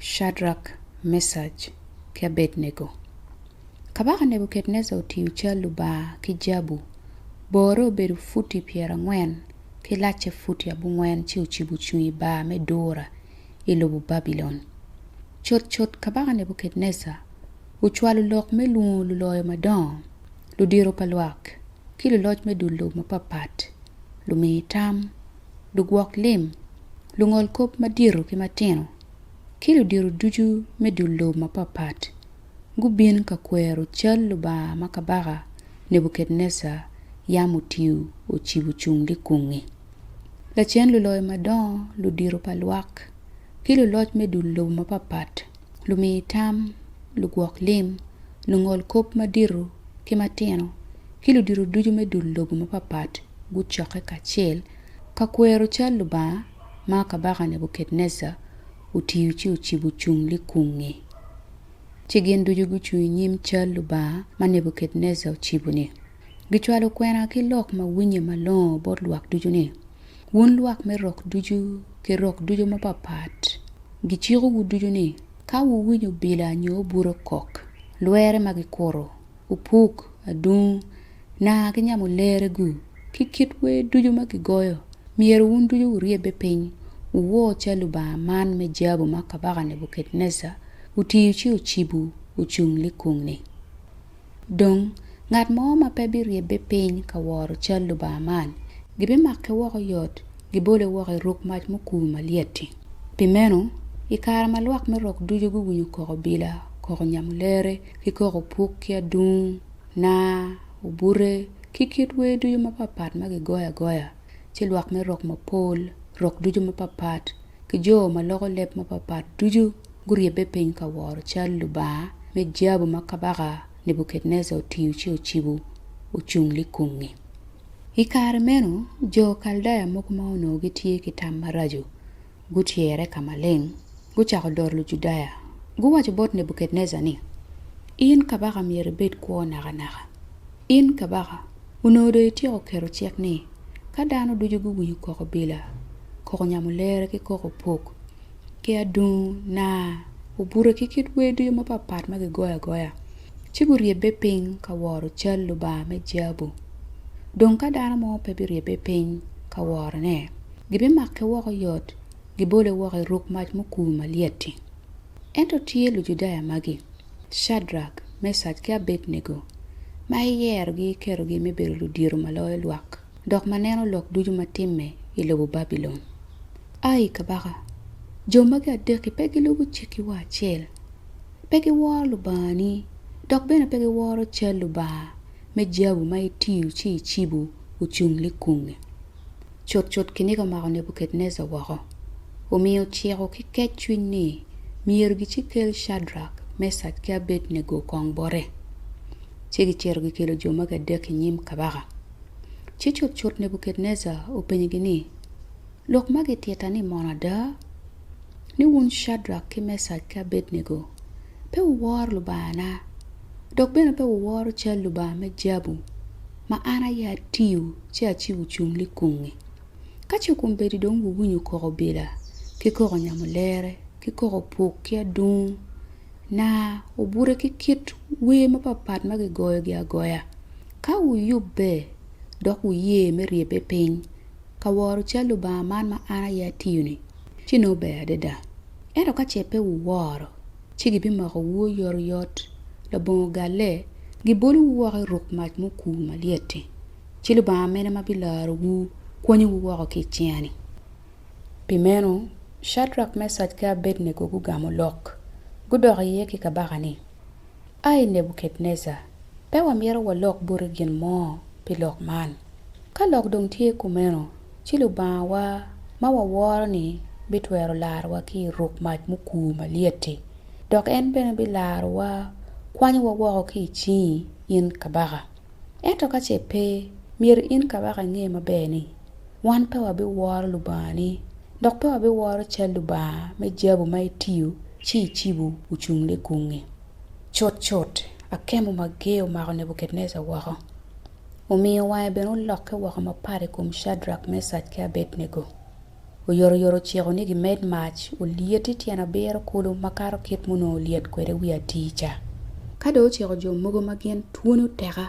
Cadrak, Mecaj, ki Abednego. Kabaka Nebuketneca otiyo cal Lubanga ki jabu, borre obedo futi pyerangwen ki lacce futi abongwen ci ocibo cung i bar me Dura i lobo Babilon. Cutcut Kabaka Nebuketneca ocwalo lok me lwongo luloyo madongo, ludito pa lwak, ki luloc me dul lobo mapatpat, lumiitam, lugwok lim, lungol kop madito ki matino, ki ludito ducu me dul lobo mapatpat gubin ka kwero cal Lubanga ma Kabaka Nebukadnejar yam otiyo ocibo cung likungngi. Lacen luloyo madongo, ludito pa lwak, ki luloc me dul lobo mapatpat lumi tam, lugwok lim, lungol kop madito ki matino, ki ludito ducu me dul lobo mapapat gucokke kacel ka kwero cal Lubanga ma Kabaka Nebukadnejar otiyo ci ocibo ocung likung-ngi. Ci gin ducu gucung i nyim cal Lubanga ma Nebukadnejar ocibo-ni. Gicwalo kwena ki lok ma winye malongo bot lwak ducu ni, Wun lwak me rok ducu ki rok ducu mapapat, gicikowu ducu ni, Ka wuwinyo obila nyo obuto kok, lwere ma gikuto, opuk, adungu, naa ki nyamo lerregu, ki kit wer ducu ma gigoyo, myero wun ducu wuryebbe piny, wuwo cal Lubanga man me jabu ma Kabaka Nebukadnejar otiyo ci ocibo ocung likung-nni. Dong, ngat mo ma pe biryebbe piny ka woro cal Lubanga man, gibimake woko yot, gibole woko i ruk mac mukur malyet-ti. Pi meno, i kare ma lwak me rok ducu guwinyo koko bila, koko nyamulere, ki koko puk ki adungu, naa, obute, ki kit wer ducu mapatpat ma gigoyo agoya, ci lwak me rok mapol, rok ducu mapatpat, ki jo ma loko leb mapatpat ducu, guryebbe piny ka woro cal lubanga me jabu ma Kabaka Nebukadnejar otiyo ci ocibo ocung likungngi. I kare meno, jo Kaldaya mogo ma onongo gitye ki tam maraco gutyere ka maleng, gucako doro Lujudaya. Guwaco bot Nebukadnejar ni, In kabaka myero ibed kwo nakanaka. In kabaka, onongo dong ityeko keto cik ni, ka dano ducu guwinyo koko bila, koko nyamo lere ki koko opuk, ki adungu naa obute ki kit wer ducu mapat ma kigoyo agoya ci guryebbe piny ka woro cal Lubanga me jabu. Dong ka dano mo pe biryebbe piny ka worone, gibimake woko yot, gibole woko i ruk mac mukur malyet-ti. Ento tye Lujudaya magi, Cadrak, Mecak, ki Abednego, ma iyerogi iketogi me bedo ludito ma loyo lwak. dok ma neno lok ducu ma timme i lobo Babilon. Ai, kabaka, jo magi adek-ki pe gilubo cikki wa acel. Pe giworo Lubangani, dok bene pe giworo cal lubanga me jabu ma itiyo ci icibo ocung likunge. Cutcut kiniga omako Nebukadnejar woko, omiyo ociko ki kecwiny ni myero gici kel Cadrak, Mecak, ki Abednego kong bote. Ci gicito gikelo jo magi adek-ki i nyim kabaka. Ci cutcut Nebukadnejar openyogi ni, Lok ma gitita-ni mono ada? Ni wun Cedrak ki Mecak ki Abednego, pe wuworo Lubangana, dok bene pe wuworo cal lubanga me jabu ma an aye atiyo ci acibo cung likungngi? Ka ce kombeddi dong wuwinyo koko bila, ki koko nyamulere, ki koko puk ki adungu, na obutte ki kit wer mapat pat ma kigoyogi agoya. Ka wuyubbe dok wuye me ryebbe piny ka woro cal Lubanga man ma an aye atiyo-ni, ci nongo ber adada. Ento ka ce pe wuworo, ci gibimokowu oyotoyot labongo galle, gibolowu woko i ruk mac ma okur malyet-ti. Ci Lubanga mene ma bilarowu, kwonyowu woko ki i cinga-ni? Pi meno, Cadrak, Mecak, ki Abednego gugamo lok. Gudok iye ki kabaka ni, 'Ai Nebuketnejar, pe wamito walok boti gin mo pi lok man. Ka lok dong tye kumeno, ci Lubangawa ma waworo-ni bitwero larowa ki i ruk mac mukur malyet-ti, dok en bene bilarowa kwanyowa woko ki i cingi, in kabaka. Ento ka ce pe, myero in kabaka inge maber ni, wan pe wabiworo Lubangani, dok pe wabiworo cal lubanga me jabu ma itiyo ci icibo ocung likung-ngi. Cutcut, akemo mager omako Nebukadnejar woko, omiyo wange bene olokke woko mapat i kom Cadrak, Mecak, ki Abednego. Oyotoyot ociko ni gimed mac olyeti tyen abiro kulu makato kit munongo olyet kwede wiye atir ca. Ka dong ociko jo mogo ma gin twoni oteka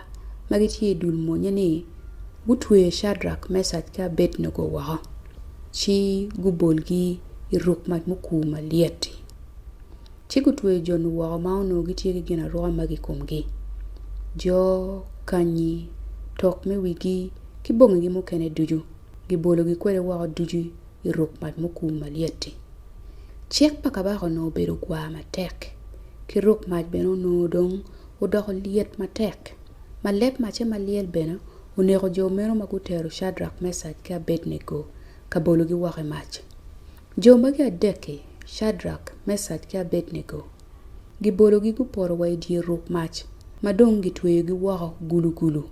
ma gitye i dul monnye ni gutwe Cadrak, Mecak ki Abednego woko, ci gubolgi i ruk mac mukur malyet-ti. Ci gutweyo jo-nu woko ma onongo gitye ki ginaruka magi i komgi, jo, kanyi, tok me wigi, ki bongigi mukene ducu. gibologi kwede woko ducu i ruk mac mukum malyet-ti. Cik pa kabaka onongo obedo gwar matek, ki ruk mac bene onongo dong odoko lyet matek, ma leb macce ma lyel bene oneko jo meno ma gutero Cadrak, Mecak, ki Abednego ka bologi woko i mac. Jo magi adek-ki, Cadrak, Mecak, ki Abednego, Gibologi gupoto wa i dye ruk mac, ma dong gitweyogi woko gulugulu.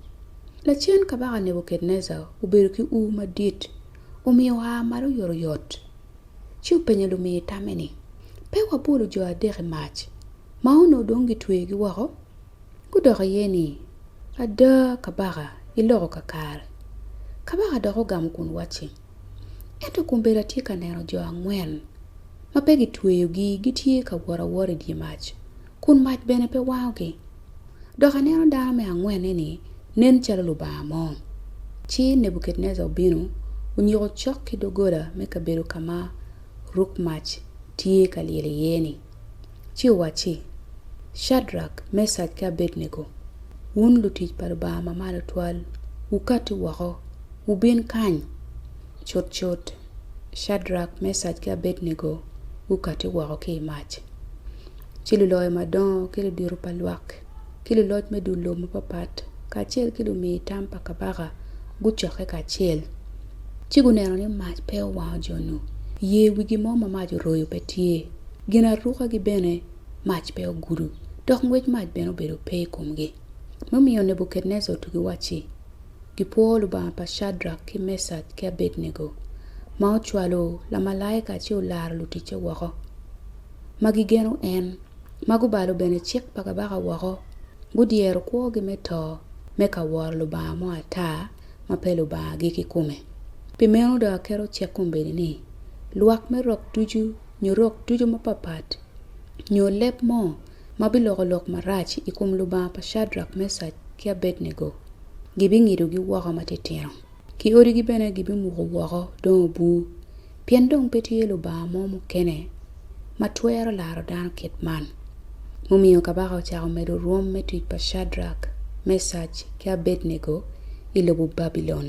Lacen Kabaka Nebukadnejar obedo ki ur madit, omiyo oa malo oyotoyot, ci openyo lumiye tamme ni, Pe wabolo jo adek i mac, ma onongo dong gitweyogi woko? Gudok iye ni, Ada, kabaka, iloko kakare. Kabaka dok ogamo kun wacci, Ento kombeddi atye ka neno jo angwen ma pe kitweyogi gitye ka wot awota i dye mac, kun mac bene pe wangogi. Dok aneno dano me angwen-ni-ni nen calo lubanga mo. Ci Nebuketnejar obino, onyiko cok ki doggola me kabedo ka ma ruk mac tye ka lyel iye-ni. ci owacci, Cadrak, Mecak ki Abednego, wun lutic pa Lubanga Ma Malo Twal, wukatti woko, wubin kany! Cutcut, Cadrak, Mecak ki Abednego gukatti woko ki i mac. Ci luloyo madongo ki ludito pa lwak ki luloc me dul lobo mapatpat kacel ki lumiyo tam pa kabaka gucokke kacel, ci guneno ni mac pe owango jo-nu, iye wigi mo ma mac oroyo pe tye, ginarukagi bene mac pe ogudo, dok ngwec mac bene obedo pe i komgi. Mumiyo Nebukadnejar otugi wacci, Gipwor Lubanga pa Cadrak ki Mecak ki Abednego, ma ocwalo lamalaika ci olaro luticce woko. ma gigeno en, ma gubalo bene cik pa kabaka woko, gudyero kwogi me to me ka woro lubanga mo ata ma pe Lubangagi kikome. Pi meno dong aketo cik kombeddi ni, lwak me rok ducu nyo rok ducu mapapat nyo leb mo ma biloko lok marac i kom Lubanga pa Cadrak, Mecak, ki Abednego, gibingidogi woko matitino, ki odigi bene gibimuko woko dong obur. pien dong pe tye Lubanga mo mukene ma twero laro dano kit man. Mumiyo kabaka ocako medo rwom me tic pa Cadrak, Mecac, ki Abednego i lobo Babilon.